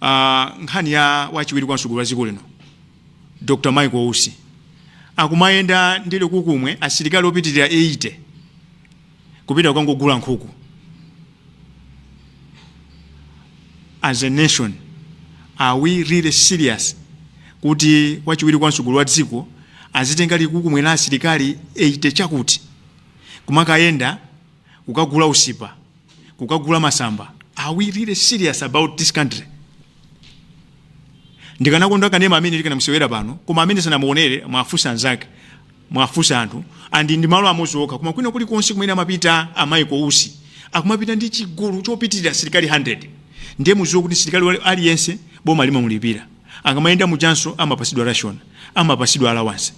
uh, nkhani ya wachiwiri kwa mtsogoleri wa dziko lino dr michael usi akumayenda ndi likukumwe la asilikali opitirira 80 kupita kukangogula nkhuku as a nation are we really serious kuti wachiwiri kwa mtsogoleri wa dziko azitenga likukumwe la asilikali 80 chakuti kumakayenda kukagula usipa kukagula masamba are we really serious about this country ndikanakonda kanema amene tikanamuonetsera pano koma amene sanamuonere muwafunse anzake muwafunse anthu and si malo amodzi okha koma kwina kulikonse kumene amapita a michael usi akumapita ndi chigulu chopitirira asilikali 100 ndiye muziwe kuti msilikali wali- aliyense boma limamulipira akamayenda mujanso amapasidwa ration amapasidwa allowance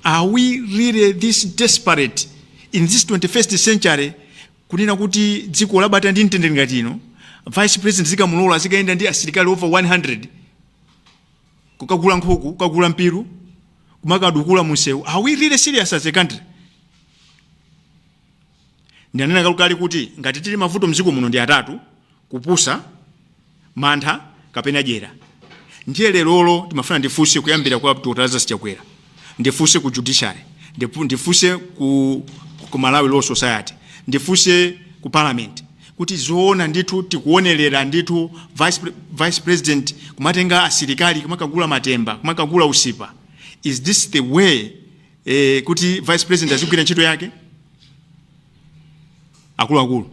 are we really this desperate in this 21st century Kunena kuti dziko labata ndi mtendere ngati ino, vice president zikamulola azikayenda ndi asilikali over 100 kukagula nkhuku, kukagula mpiru, kumakadikula munsewu. Are we really serious as a country? Ndinanena kalekale kuti ngati tili mavuto mziko muno ndi atatu, kupusa, mantha kapena dyera ndiye lerolo ndimafuna ndifunse kuyambira kwa Dr. Lazarus Chakwera ndifunse ku judiciary ndipu- ndifunse ku, ku Malawi Law Society ndifunse ku parliament kuti zoona ndithu tikuonerera ndithu vice, pre- vice president kumatenga asilikali kumakagula matemba kumakagula usipa is this the way eh, kuti vice president azigwira ntchito yake akuluakulu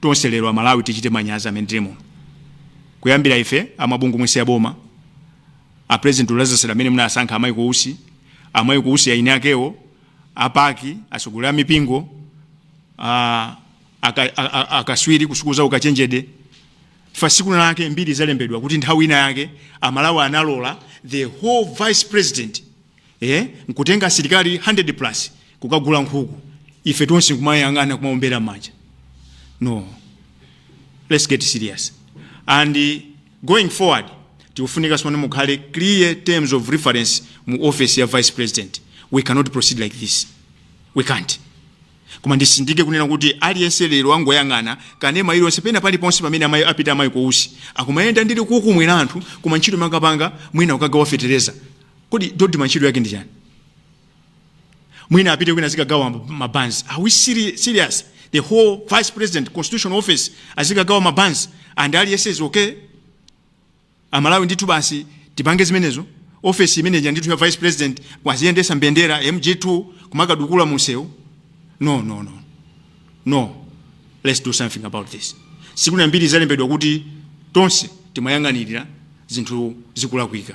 tonse lero amalawi tichite manyazi amene tili muno kuyambira ife amabungwe nonse aboma apresident a lazarus amene munasankha a michael usi a michael usi eni akewo apaki atsogoleri a mipingo a- aka- a- a- akaswiri ku sukulu za ukachenjede tsiku lina lake mbiri izalembedwa kuti nthawi ina yake amalawi analola the whole vice president eeh nkutenga asilikali 100 plus kukagula nkhuku ife tonse nkumayang'ana kumaombera m'manja no let's get serious and going forward tikufunika tsopano mukhale clear terms of reference mu office ya vice president we cannot proceed like this we can't koma nditsindike kunena kuti aliyense lero angoyang'ana kanema iliyonse pena paliponse pamene amayi apita a michael usi akumayenda ndi likukumwe la anthu koma ntchito amakapanga mwina kukagawa fetereza kodi dodma ntchito yake ndi chani mwina apite kwina azikagawa mabanzi are we seri- serious the whole vice president constitutional office azikagawa mabanzi and aliyense is okay amalawi ndithu basi tipange zimenezo ofesi imeneja ndithu ya vice president aziyendesa mbendera mg2 kumakadukula munsewu no no no no let's do something about this zisakhale mbiri zalembedwa kuti tonse timayang'anirira zinthu zikulakwika